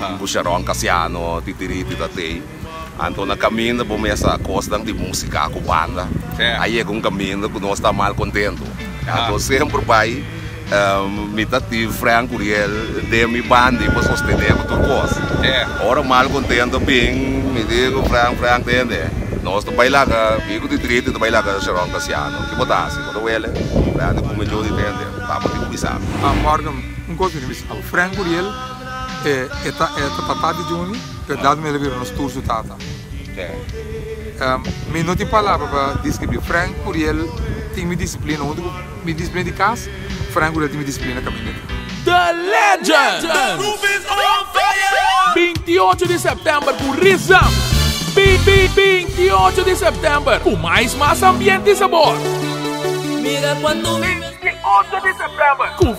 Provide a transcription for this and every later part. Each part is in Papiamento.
un busharon kasiano di diriti ta tei. Anto na kaminda bo mester a kosnan di musika ku banda. A yega un kaminda ku nos ta mal kontentu. Anto semper bai mi ta tin Frank Curiel den mi bandi pa sostené ku tur kos. Ora mal kontentu a bin mi di ku Frank, Frank tende nos ta bai laga mi ku di diriti ta bai laga Sharon Casiano. Ki bo ta hasi? Bo ta wele? Frank di kume djunti tende tabatin ku bisa. Morgan un kos ku mi bisa Frank Curiel. E e ta e ta tata di Juni verdad mi a libera nos tur su tata mi no tin palabra pa discribi Frank Uriel tin mi disciplina hunto cu mi disciplina di cas Frank Uriel tin mi disciplina caminda di. The legend binti y ocho di september cu rizang binti y ocho di september cu mais mas ambiente y sabor binti y ocho di september cu.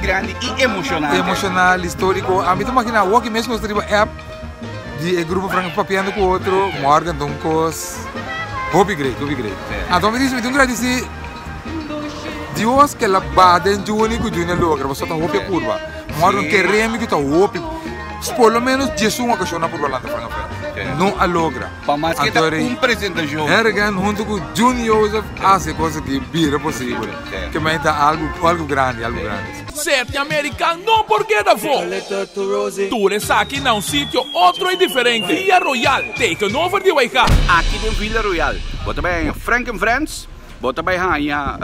Grandi y emocionante. Emocional, historico. A mi ta imagina awor ki mes nos ta riba app di e grupo franca papiando cu otro, Morgan ta un cos hopi great, hopi great. Anto mi ta dici mi tin un gradici Dios cu el a ba den Junie cu Junie a logra pasobra ta hopi a purba. Morgan ke remi cu ta hopi, por lo menos dies un ocasion a purba lanta franca afuera. No a logra. Pa mas ke ta un presentacion. Hergen hunto cu Junie Joseph a haci e cos aki bira posible. Ke mei ta algu algu grandi algu grandi. Sete American no por keda fo. Tur esaki na un sitio otro y diferente, Villa Royal, taken over di Waigá. Aki den Villa Royal bo ta bai haña Frank and Friends, bo ta bai haña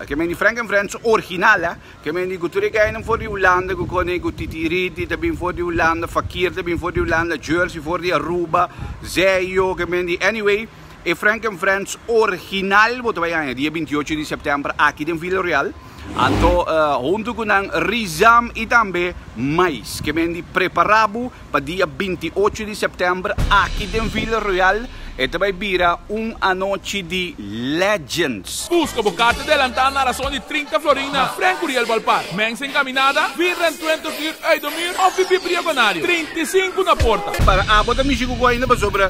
ke men di Frank and Friends orginal, ke men di ku tur e gaynan for di Hulanda ku kòrda ku Titi Ridi ta bin for di Hulanda, Fakir ta bin for di Hulanda, Jersey for di Aruba, Zeio ke men di anyway. E Frank and Friends orginal bo ta bai haña dia bintiyocho di sèptèmber aki den Villa Real. Anto huntu ku nan rizam i tambe mais ke men di prepará bo pa dia bintiyocho di sèptèmber aki den Villa Real. E ta bai bira un anochi di legends. Buska bo karta delantá na rason di trinta florin na Frank Curiel Balpark. Mensen kaminada, bir den tuentig uur uit de muur òf di Bibliogonario, trinta i sinku na porta. Para abo ta mishi ku kohe inda pasobra.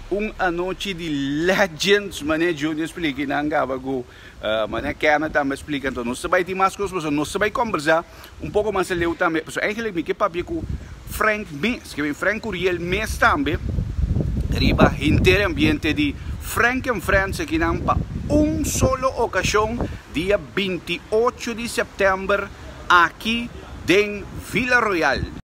Un anochi di legends manera Junior splica y nan gaba cu manera Kenneth tambe a splica entonces nos ta bay tin mas cos pasobra nos ta bay combersa un poco mas aleu tambe pasobra eigenlic mi ke papia cu Frank mes ke Frank Curiel mes tambe riba henter e ambiente di Frank and Friends akinan pa un solo ocasion dia binti ocho di September aki den Villa Royal.